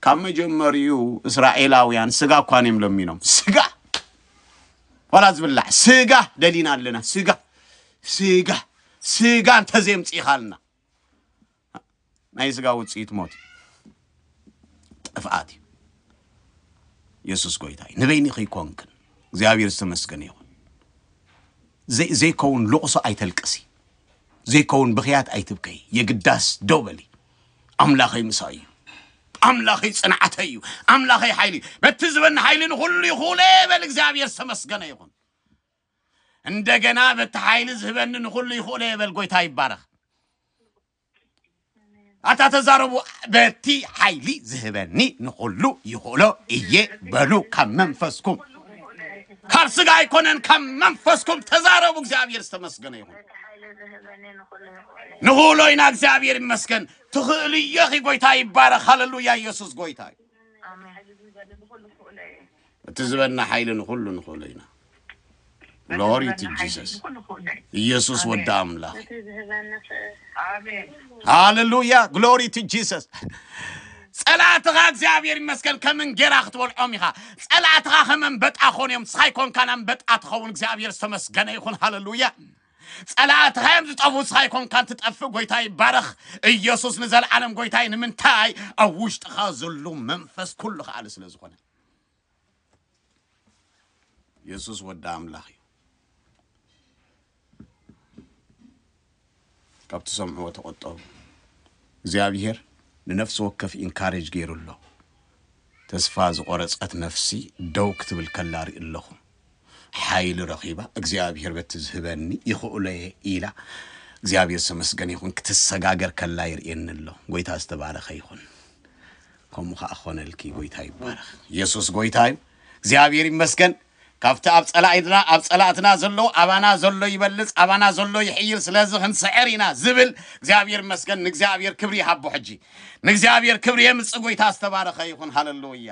ካብ መጀመሪኡ እስራኤላውያን ስጋ እኳ እዮም ለሚኖም ስጋ ዋላ ዝብላዕ ስጋ ደሊና ኣለና ስጋ ስጋ ስጋ እንተዘየምፅኢኻልና ናይ ስጋ ውፅኢት ሞት እዩ ጥፍኣት እዩ የሱስ ጎይታ እዩ ንበይኒ ከይኮንክን እግዚኣብሔር ዝተመስገነ ይኹን ዘይ- ዘይከውን ልቕሶ ኣይተልቅሲ ዘይከውን ብኽያት ኣይትብከይ የግዳስ ደው በሊ ኣምላኸይ ምሳይ እዩ ኣምላኸይ ጽንዓተይ እዩ ኣምላኸይ ሓይሊ እዩ በቲ ዝበኒ ሓይሊ ንኹሉ ይኹእለ በል እግዚኣብሔር ዝተመስገነ ይኹን እንደገና በቲ ሓይሊ ዝህበኒ ንኹሉ ይኹእለ በል ጎይታ ይባረኽ ኣታ ተዛረቡ በቲ ሓይሊ ዝህበኒ ንኹሉ ይኽእሎ እየ በሉ ካብ መንፈስኩም ካብ ስጋ ኣይኮነን ካብ መንፈስኩም ተዛረቡ እግዚኣብሔር ዝተመስገነ ይኹን ንክእሎ ኢና እግዚኣብሔር ይመስገን ትክእሉ ኢኪ ጎይታ ይባረክ ሃለሉያ ኢየሱስ ጎይታ እዩ እቲ ዝበና ሓይሊ ንኩሉ ንክእሎ ኢና ግሎሪ ቱ ጂሰስ ኢየሱስ ወዲ ኣምላኽ ሃለሉያ ግሎሪ ቱ ጂሰስ ጸላእትኻ እግዚኣብሔር ይመስገን ከም እንጌራ ክትበልዖም ኢኻ ጸላእትኻ ከም ኣንበጣ ኮንዮም ንስኻ ይኮንካን ኣንበጣ ትኸውን እግዚኣብሔር ዝተመስገነ ይኹን ሃለሉያ ጸላእትኻዮም ዝጠፍኡ ንስኻ ኣይኮንካን ትጠፍእ ጎይታ ይባረኽ ኢየሱስ ንዘለዓለም ጎይታይ ንምንታይ ኣብ ውሽጥኻ ዘሎ መንፈስ ኩሉ ከኣሊ ስለ ዝኾነ ኢየሱስ ወዲ ኣምላኽ እዩ ካብ ትሰምዕዎ ተቆጠቡ እግዚኣብሔር ንነፍሲ ወከፍ ኢንካሬጅ ገይሩ ኣሎ ተስፋ ዝቆረጸት ነፍሲ ደው ክትብል ከላ ርኢ ኣለኹ ሓይሊ ረኺባ እግዚኣብሔር በቲ ዝህበኒ ይኽእሎየ ኢላ እግዚኣብሔር ዝተመስገነ ይኹን ክትሰጋገር ከላ ይርእየኒ ኣሎ ጎይታ ዝተባረኸ ይኹን ከምኡ ከዓ ኾነልኪ ጎይታ ይባረኽ ኢየሱስ ጎይታ እዩ እግዚኣብሔር ይመስገን ካብቲ ኣብ ፀላኢትና ኣብ ፀላእትና ዘሎ ኣባና ዘሎ ይበልፅ ኣባና ዘሎ ይሕይል ስለዚ ክንስዕር ኢና ዝብል እግዚኣብሔር ይመስገን ንእግዚኣብሔር ክብሪ ይሃቦ ሕጂ ንእግዚኣብሔር ክብሪ የምፅ ጎይታ ዝተባረኸ ይኹን ሃለሉያ